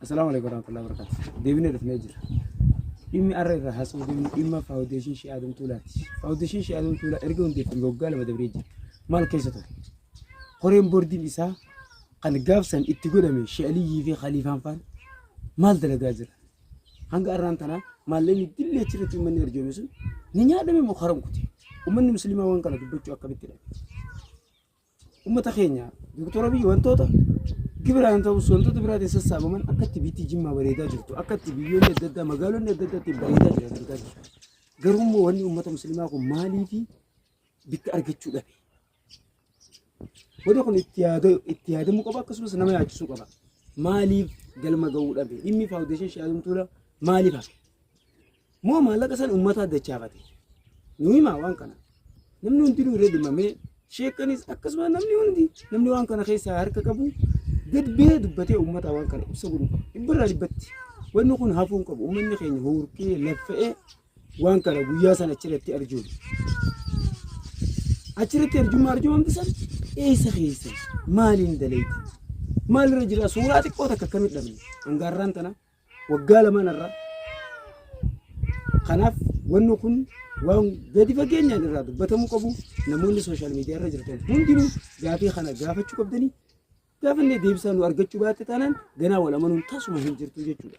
Assalaamu alaikum warahmatullahi wabarakatuh. Deebinee dhufnee jira. Dhimmi har'a irraa haasa'uu deemnu dhimma faawundeeshin Shii Adam Tuulaati. Faawundeeshin Shii Adam Tuulaa erga hundeeffame waggaa lama dabree jira. Maal keessa ture? Koreen boordiin isaa kan gaafsan itti godhame Shii Aliyyii fi Khaliifaan faan maal dalagaa jira? Hanga arraan tanaa maallaqni dillee achirratti uummanni arjoome sun ni nyaadhame moo haram kute? Uummanni musliimaa waan kana dubbachuu akkamitti dhabe? Uummata keenya Dooktor Abiyyi wantoota gibiraan ta'us wantoota biraatiin sassaabaman akkatti biitti jimmaa bareedaa jirtu akkatti biyyoonni adda addaa magaalonni adda addaatti bareedaa jiran argaa jirra. Garuu immoo wanni uummata musliimaa kun maaliifi bitti argachuu dhabe? Booda kun itti yaada- itti yaadamuu qaba akkasumas nama yaachisuu qaba. Maaliif galma ga'uu dhabe? Dhimmi faawundeeshinii Shi'aazum Tuula maaliif hafe? Moo maallaqa san uummataa dachaafate? Nu himaa waan kana. Namni hundinuu irra dhimmamee sheekanis akkasumas namni hundi namni waan kana keessaa harka qabu gad ba'ee dubbatee uummata waan kana ibsa godhuu qaba. Dhibbarraa dhibbatti. Wanni kun hafuu hin qabu. Uummanni keenya huurkee laffa'ee Waan kana guyyaa sana achirratti arjuun achirratti arjummaa arjumamti san eessa keessa maaliin daleeti maalirra jira suuraa xiqqoo takka akkamit dhabne hangaarraan tana waggaa lamaan irraa kanaaf wanni kun waan gadi fageenyaan irraa dubbatamuu qabu namoonni sooshaal miidiyaa irra jirtan hundinuu gaafii kana gaafachuu qabdanii gaafannee deebisaa nu argachuu baatte taanaan ganaa wal amanuun tasuma hin jirtu jechuudha.